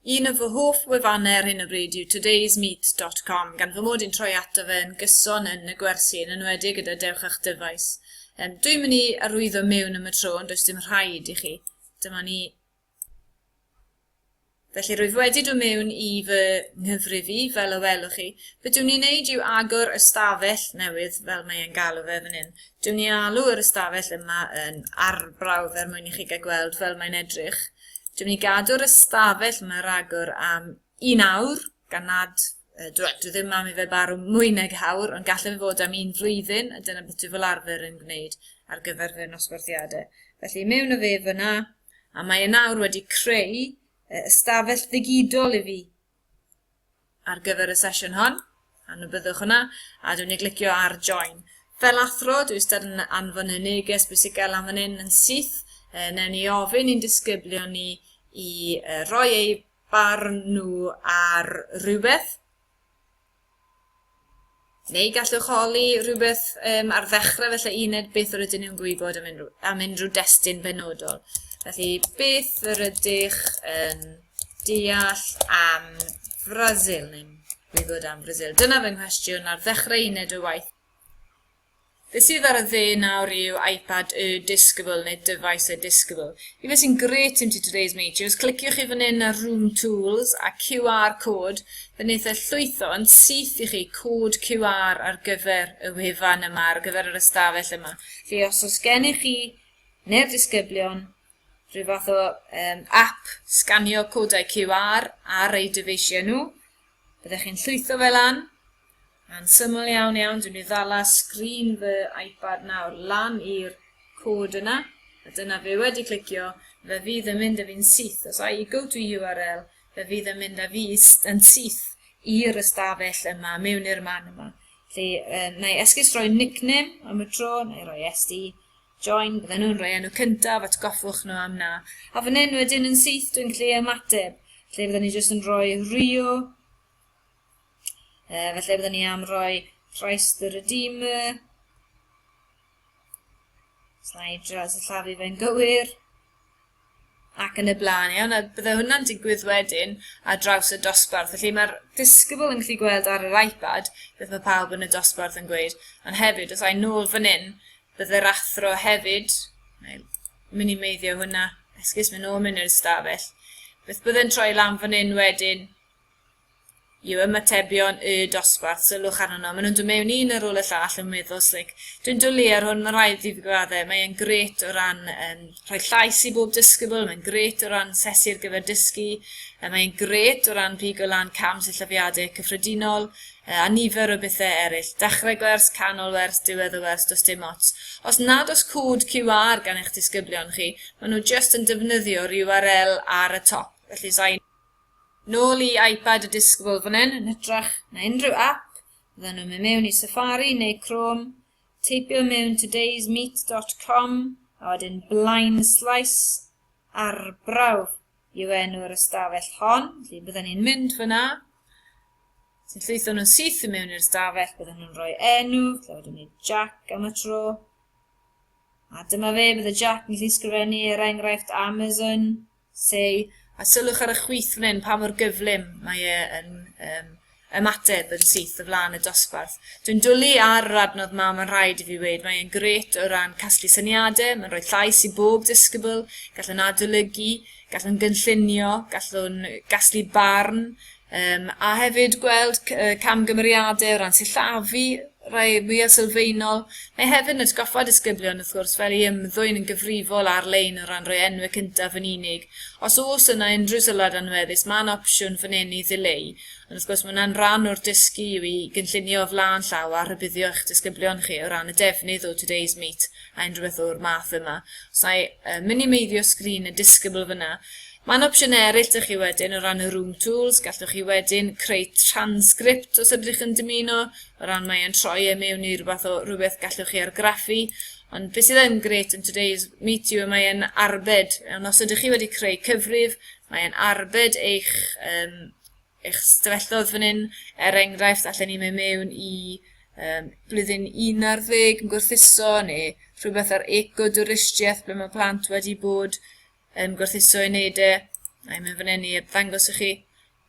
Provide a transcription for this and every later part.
Un o fy hoff wefannau ar hyn o bryd yw todaysmeet.com, gan fy mod i'n troi ato fe yn gyson yn y gwersi, yn enwedig gyda Dewch â'ch Dyfais. Um, dwi'n mynd i arwyddo mewn am y tro, ond does dim rhaid i chi. Dyma ni Felly, rwyf wedi dod mewn i fy nghyfrif i, fel y welwch chi. Be dwi'n ei wneud yw agor ystafell newydd, fel mae e'n galw fe fan hyn. Dwi'n ei alw yr ystafell yma yn arbrawf er mwyn i chi gael gweld fel mae'n edrych. Dwi'n ei gadw'r ystafell yma ragor am un awr, gan nad uh, dwi, dwi ddim am i fe barw mwy nag awr, ond gallai fe fod am un flwyddyn, a dyna beth dwi fel arfer yn gwneud ar gyfer fy nosbarthiadau. Felly, mewn o fe fyna, A mae e nawr wedi creu y ystafell ddigidol i fi ar gyfer y sesiwn hon. A nhw byddwch yna, a dwi'n ei glicio ar join. Fel athro, dwi wastad yn anfon y neges bwysicau lan fan hyn yn syth. E, newn ni ofyn i'n disgyblion ni i e, roi eu barn nhw ar rhywbeth. Neu gallwch holi rhywbeth um, ar ddechrau felly uned beth yr ydyn nhw'n gwybod am unrhyw, am unrhyw destun benodol. Felly, beth yr ydych yn deall am Brasil, neu'n gwybod am Brasil? Dyna fy nghwestiwn ar ddechrau uned o waith. Be sydd ar y dde nawr yw iPad y disgybl neu dyfais y disgybl. I fe sy'n grêt im ti today's meeting, os cliciwch chi fan hyn ar Room Tools a QR Code, fe wneith e llwytho yn syth i chi cod QR ar gyfer y wefan yma, ar gyfer yr ystafell yma. Felly os oes gennych chi neu'r disgyblion rhyw fath o um, app sganio codau QR ar eu dyfeisiau nhw, byddech chi'n llwytho fe lan, Yn syml iawn iawn, dwi'n mynd i ddala sgrin fy iPad nawr lan i'r cod yna, a dyna fe wedi clicio, fe fydd yn mynd â fi'n syth, os I go to URL, fe fydd yn mynd â fi yn syth i'r ystafell yma, mewn i'r man yma. Felly, uh, na i esgus roi nickname am y tro, na i roi SD, join, bydden nhw'n rhoi enw cyntaf, atgoffwch nhw am na. A fan hyn wedyn yn syth, dwi'n gallu ymateb. Felly, fydden ni jyst yn rhoi Rio, Uh, felly byddwn ni am roi Christ the Redeemer. Slaid dras y llafu fe'n gywir ac yn y blaen iawn, a bydde hwnna'n digwydd wedyn ar draws y dosbarth. Felly mae'r disgybl yn gallu gweld ar yr iPad beth mae pawb yn y dosbarth yn gweud, ond hefyd, os a'i nôl fan hyn, bydde'r athro hefyd, mae'n minimeiddio hwnna, esgus mynd nôl mynd i'r stafell, beth bydde'n troi lan fan hyn wedyn, yw ymatebion y dosbarth, sylwch arnyn nhw. Maen nhw'n dod mewn un ar ôl y llall yn meddwl, slic. Dwi'n dwlu ar hwn, mae rhaid i fi gradde. Mae e'n gret o ran um, rhoi llais i bob disgybl, mae'n gret o ran sesi ar gyfer dysgu, a mae'n gret o ran pigo lan cam sillafiadau cyffredinol, a nifer o bethau eraill. Dechrau gwers, canol wers, diwedd y wers, does dim ots. Os nad os cwd QR gan eich disgyblion chi, maen nhw just yn defnyddio URL ar y top. Felly, sain Nôl i iPad y disgybl fan hyn, yn hytrach na unrhyw ap, fyddan nhw'n mynd mewn i Safari neu Chrome, teipio mewn today'smeet.com a wedyn Blaen Slice Arbrawf yw enw'r ystafell hon, felly byddan ni'n mynd fyna, sy'n llwytho nhw'n syth i mewn i'r ystafell, byddan nhw'n rhoi enw, lle wedyn ni Jack am y tro. A dyma fe, bydde Jack yn gallu sgrifennu er enghraifft Amazon, Llai, a sylwch ar y chwith fan hyn, pa mor gyflym mae e yn um, ymateb yn syth o flaen y dosbarth. Dwi'n dwlu ar yr adnodd yma, mae'n rhaid i fi wneud, mae e'n gret o ran casglu syniadau, mae'n rhoi llais i bob disgybl, gallwn adolygu, gallwn gynllunio, gallwn gasglu barn, Yym, a hefyd gweld c- yy camgymeriadau o ran sillafu, rhai mwya' sylfaenol. Mae hefyd yn atgoffa disgyblion wrth gwrs fel i ymddwyn yn gyfrifol ar-lein o ran rhoi enwau cyntaf yn unig. Os oes yna unrhyw sylwad anweddus ma' 'na opsiwn fan 'yn i ddileu ond wrth gwrs ma' hwnna'n ran o'r dysgu yw i gynllunio o flaen llaw a rhybuddio eich disgyblion chi o ran y defnydd o today's meet a unrhyw beth o'r math yma. Os 'na i yy minimeiddio sgrin y disgybl fan 'na Mae'n opsiynau eraill 'da chi wedyn o ran y Room Tools, gallwch chi wedyn creu transcript os ydych yn dymuno, o ran mae'n troi e mewn i rywbeth o rywbeth gallwch chi argraffu, ond beth sydd yn gret yn Today's Meet You mae'n arbed, ond os ydych chi wedi creu cyfrif, mae'n arbed eich, um, eich stafelloedd fan hyn, er enghraifft, allan ni mewn mewn i um, blwyddyn 11 yn gwrthuso neu rhywbeth ar eco-dwristiaeth ble mae plant wedi bod yn gwerthuso i wneud e, a i'n mynd fan hyn i ddangos i chi,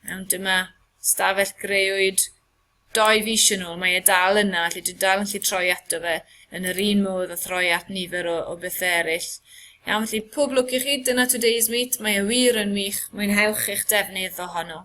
iawn, dyma stafell greuwyd doi fis yn ôl, mae e dal yna, felly dwi'n dal yn lle troi ato fe yn yr un modd a throi at nifer o, o bethau eraill. Iawn, felly pob lwc i chi, dyna Today's Meet, mae e wir yn wych, mwynhewch eich defnydd ohono.